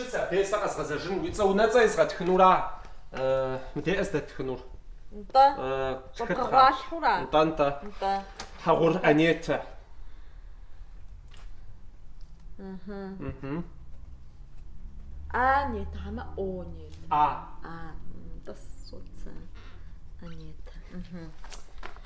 Щыцэ, бесэ къэзгъэзэжыну, уи цӏэ унэцӏэ езгъэтхынура мы деӏэ здэтхынур? Нтӏэ. Къыбгъэгъуалъхьура? Нтӏэ, нтӏэ. Нтӏэ. Хьэгъур Анетэ. Анетэ, хьэмэ Онетэ? А. А, нтӏэ соцэ. Анетэ.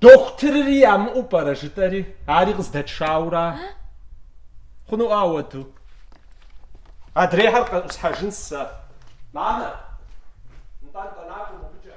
Дохутырри ямыӏэу пӏэрэ жытӏэри, ари къыздэтшаура? Хъунуӏэ ауэду. Адрейхэр къэӏусхьэжын сэ. Мамэ, нтӏэ нтӏэ накӏуэ мобыкӏэ.